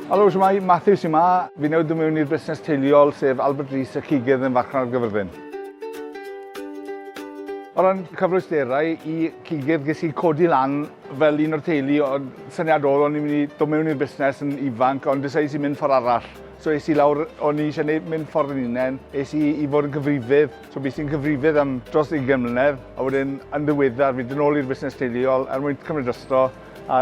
Helo, siwmai, Matthew sy'n ma. Fi newid dod mewn i'r busnes teuluol, sef Albert Rees y Cigydd yn Farchnad ar Gyfyrddin. O ran cyfleusterau i Cigydd, ges i codi lan fel un o'r teulu, ond syniad oedd o'n i'n mynd i dod mewn i'r busnes yn ifanc, ond dysau sy'n mynd ffordd arall. So es i lawr, o'n i eisiau neud mynd ffordd yn unen. Es i i fod yn cyfrifydd, so bys i'n cyfrifydd am dros 20 mlynedd, a wedyn yn ddiweddar fi dyn ôl i'r busnes teuluol er mwyn cymryd rhestro a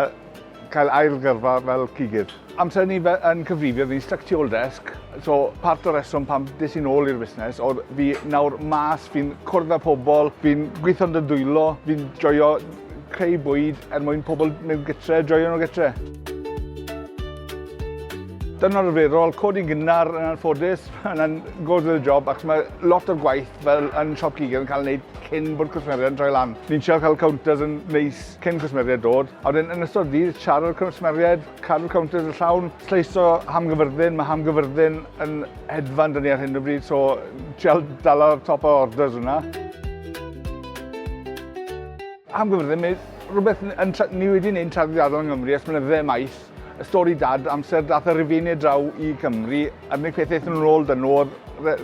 cael ail gyrfa fel cigydd. Amser ni fe, yn cyfrifydd, ni'n stuck tu ôl desg, so part o'r reswm pam des i'n ôl i'r busnes oedd fi nawr mas, fi'n cwrdd â pobl, fi'n gweithio'n dy ddwylo, fi'n joio Creu bwyd er mwyn pobl mewn gytre, joio nhw gytre. Dyna arferol, codi'n gynnar yn anffodus, mae'n goes with the job, ac mae lot o'r gwaith fel yn siop gig yn cael ei wneud cyn bod cwsmeriaid yn troi lan. Ni'n siarad cael counters yn neis cyn cwsmeriaid dod, a wedyn yn ystod ddydd siarad cwsmeriaid, Cadw counters yn llawn, lleiso hamgyfyrddin, mae hamgyfyrddin yn hedfan dyn ni ar hyn o bryd, so trial dala'r top o orders hwnna. Hamgyfyrddin, mae rhywbeth yn, ni wedi gwneud yn traddodiadol yng Nghymru ers blynydde maith. Y stori dad, amser dath y Rufeinig draw i Cymru, a'r unig peth eithon nhw'n ôl dyn nhw'r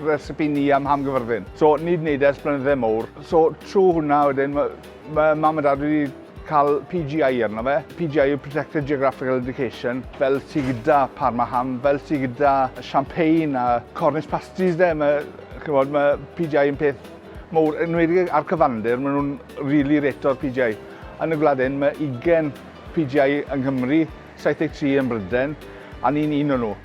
recipe ni am hamgyfyrddin. So, ni wedi gwneud e ers blynydde mowr. So, trwy hwnna wedyn, mae, mae mam a dad wedi cael PGI arno fe, PGI yw Protected Geographical Indication, fel ti gyda Parmaham, fel ti gyda Champagne a Cornish Pasties de, mae, chymod, mae PGI yn peth mowr, yn wedi ar cyfandir, maen nhw'n rili really reto'r PGI. Yn y gwlad hyn, mae 20 PGI yng Nghymru, 73 ym Mhrydain, a ni'n un o nhw.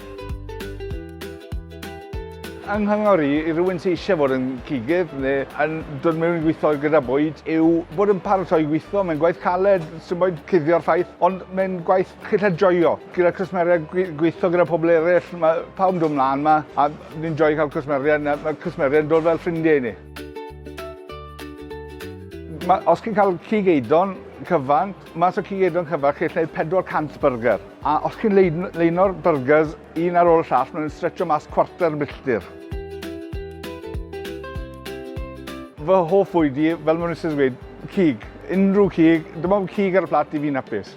Yng Nghangor i, i rywun sydd eisiau bod yn cigydd neu yn dod mewn i gweithio gyda bwyd yw bod yn paratoi i weithio. Mae'n gwaith caled, sy'n boed cuddio'r ffaith, ond mae'n gwaith chi'n gallu joio. Gyda cwsmeriaid, gweithio gyda pobl eraill, mae pawb yn dod mlaen yma a ni'n joio cael cwsmeriaid. Mae cwsmeriaid yn dod fel ffrindiau i ni. Mae, os chi'n cael cig eidon cyfan, Mas o cig edron cyfan, chi'n gallu gwneud 400 byrger. A os chi'n leino'r byrgers un ar ôl y llall, maen nhw'n stretcho mas cwarter milltir. Fy hoff fwyd i, fel mae'n rhywbeth wedi dweud, cig. Unrhyw cig, dim ond cig ar y plat i fi'n hapus.